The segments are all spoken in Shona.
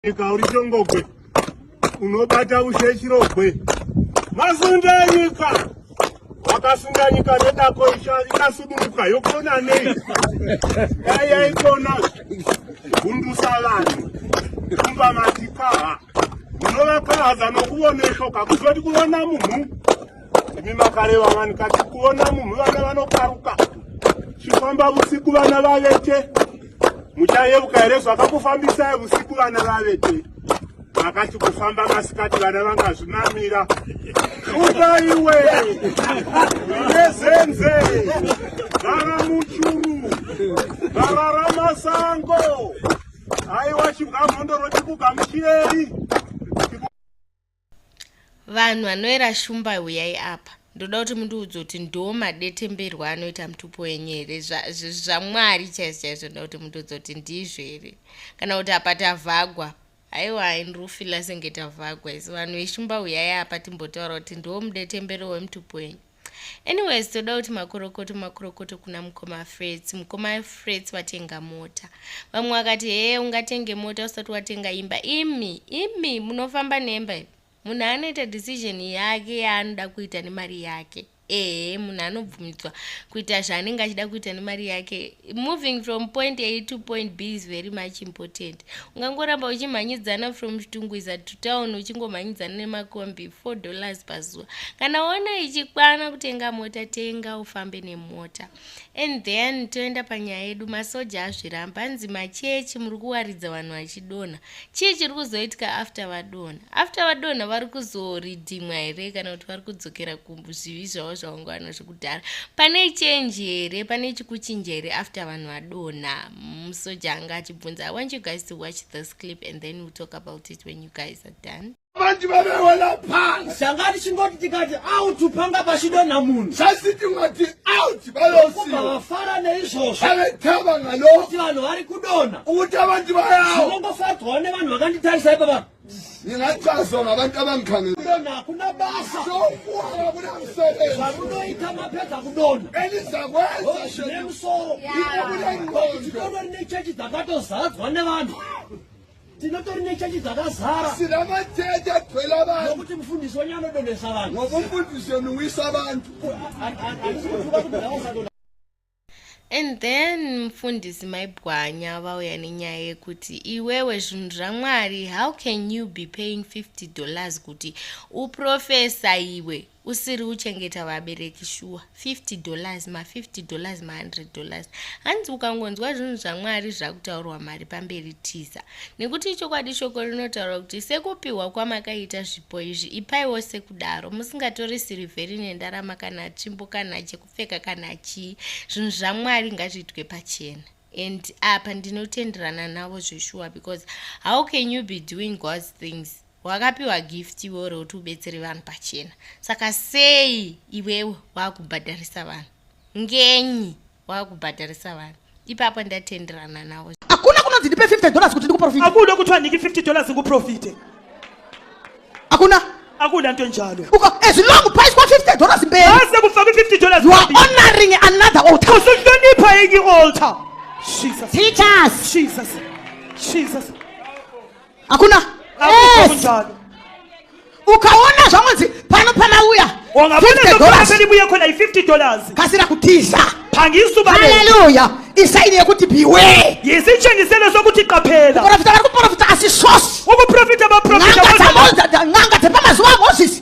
Nyika uri chongogwe unobata ushe chirogwe masunda nyika wakasunda nyika nedako ikasuduruka yokona nei dai yaikona gundusa vanhu kumba matikaha munovakahaza nokuvoneshoka kuzoti kuvona munhu imi makareva vanhu kati kuona munhu vana vanokaruka chifamba vusiku vana vavete muchayeuka here zvakakufambisai vusiku vana vavete vakati kufamba masikati vana vangazvimamira utaiwe nezenze vava muchuru vava ramasango aiwa chibwamhondoro chikugamuchiyei vanhu vanoera shumba huyai apa ndoda kuti mundiudze kuti ndo madetemberwo anoita mutupo wenyu here zvamwari zva chaizvo chaizvo ndoda kuti mundiudze kuti ndizvo here kana kuti apa tavhagwa aiwa inrufila senge tavhagwa isi vanhu veshumba huyai apa timbotaura kuti ndo mudetembero wemutupo wenyu anyways toda kuti makorokoto makorokoto kuna mukoma frets mukoma frets vatenga mota vamwe vakati hee ungatenge mota usati watenga imba imi imi munofamba nemba ivi munhu anoita decision yake yaanoda kuita nemari yake ehe munhu anobvumidzwa kuita zvaanenge achida kuita nemari yake moving from point a to point b is very much important ungangoramba uchimhanyidzana from chitungwiza to town uchingomhanyidzana nemakombi 4 dollars pazuva kana waona ichikwana kutenga mota tenga ufambe nemota and then toenda panyaya yedu masoja azviramba hanzi machechi muri kuwaridza vanhu vachidonha chii chiri kuzoitika after vadonha after vadonha vari kuzoridhimwa here kana kuti vari kudzokera kuzvivi zvavo zvavanga vanazvo kudhara pane change here pane chikuchinja here after vanhu vadonha musoja mm, anga achibvunza i want you guys to watch this clip and then we'll talk about it when you guys are done vanti vavewela phansi sanga tichingoti tikati out panga pachidonha munhu sasi tingati out vayosiva vafara neizvozvo vavetava ngalo kuti vanhu vari kudonha uta vanti vayawo zvinongofadzwawo nevanhu vakanditarisai pavaa ndingachazo ngabantu abangikhangela hakuna basa sokuwa hakuna msebenzi zvamunoita mapedza kudona enizakwenza zvine musoro ikobulengqondo rine chechi dzakatozadzwa nevanhu tinotori nechechi dzakazara sina matete agcwela vanhu nokuti mufundisi wenyu anodonesa vanhu ngoba umfundisi yoniwisa vantu And then mfundisi maibwanya vauya nenyaya yekuti iwewe zvinhu zvaMwari how can you be paying 50 dollars kuti uprofesa iwe usiri uchengeta vabereki shuwa 50 dollars ma 50 dollars ma 100 dollars hanzi ukangonzwa zvinhu zvamwari zvakutaurwa mari pamberi tiza nekuti ichokwadi shoko rinotaura kuti sekupiwa kwamakaita zvipo izvi ipaiwo sekudaro musingatori sirivheri nendarama kana tsvimbo kana cheko pfeka kana chii zvinhu zvamwari ngazviitwe pachena and apa ndinotenderana navo zveshuwa because how can you be doing god's things wakapiwa gift iwe uri kuti ubetsere vanhu pachena saka sei iwewe wakubhadharisa vanhu ngenyi wakubhadharisa vanhu ipapo ndatenderana nawo hakuna kunonzi ndipe 50 dollars kuti ndikuprofite hakuda kuti wandiki 50 dollars ndikuprofite hakuna akuda nto njalo as long price kwa 50 dollars mberi ase kufa ku 50 dollars you are honoring another altar usuhlonipha enye altar jesus jesus jesus jesus hakuna yes. ukaona zvamunzi pano panauya kasira kutiza haleluya isaini yekuti biwe yizitshengiselo sokuti qaphela uprofita vari kuprofita asi sosi ukuprofita baprofita n'anga dzepamazuva amozisi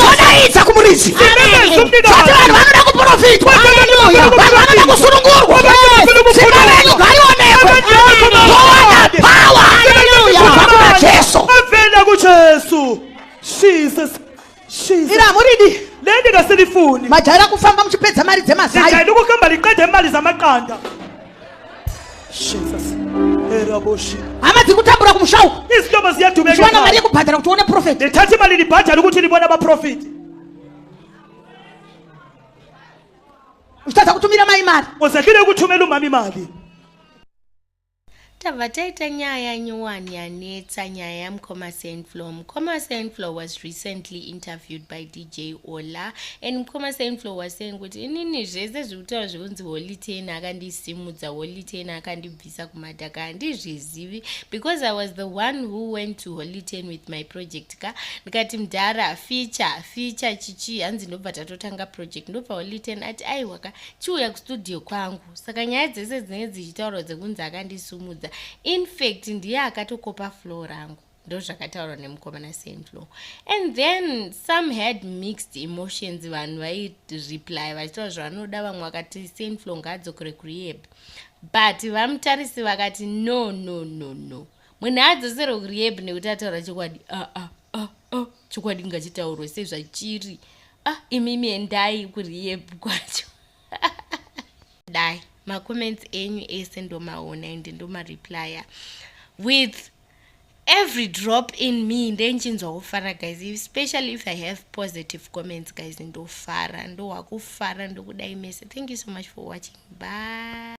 todaidza kumuridzi vati vanhu vanoda kuprofitwa vanhu vanoda kusunungurwa simba renyu ngarionekwe towana pawa kubva kuna jesu avenda kujesu jesus iri hamuridi nendingasilifuni majaira kufamba muchipedza mari dzemazai ndikukamba liqede mali zamaqanda hama dziri kutambura kumusha uku chiwana mari yekubhadhara kuti uone profeti nditati mari ndibhadhari kuti ndibona maprofiti uchitadza kutumira mai mari uzakire kutumira umami mari tabva taita nyaya nyowani yanetsa nyaya yamukoma senflow mukoma senflow was recently interviewed by d J Ola and mkoma Saintflow was saying kuti inini zvese zviri kutaura zvekunzi Holy Ten akandisimudza Holy Ten akandibvisa kumadhaka handizvizivi because I was the one who went to Holy Ten with my project ka ndikati mdhara feature feature chichi hanzi ndobva tatotanga project ndobva Holy Ten ati aiwa ka chiuya kustudio kwangu saka nyaya dzese dzinenge dzichitaurwa dzekunzi akandisimudza in fact ndiye akatokopa flow rangu ndozvakataurwa nemukomana senflo and then some had mixed emotions vanhu vaireply vachitaura zvavanoda vamwe vakati senflo ngaadzokere kurehab but vamutarisi vakati no no no no munhu aadzoserwe kurehab nekuti ataura chokwadi aa ah, ah, ah, ah, ah. chokwadi ngachitaurwe sezvachiri ah, imimi endai kurehab kwacho dai macomments enyu ese ndomaona and ndomareplya with every drop in me ndenchinzwa kufara guys especially if i have positive comments guys ndofara ndohwakufara ndokudai mese thank you so much for watching bye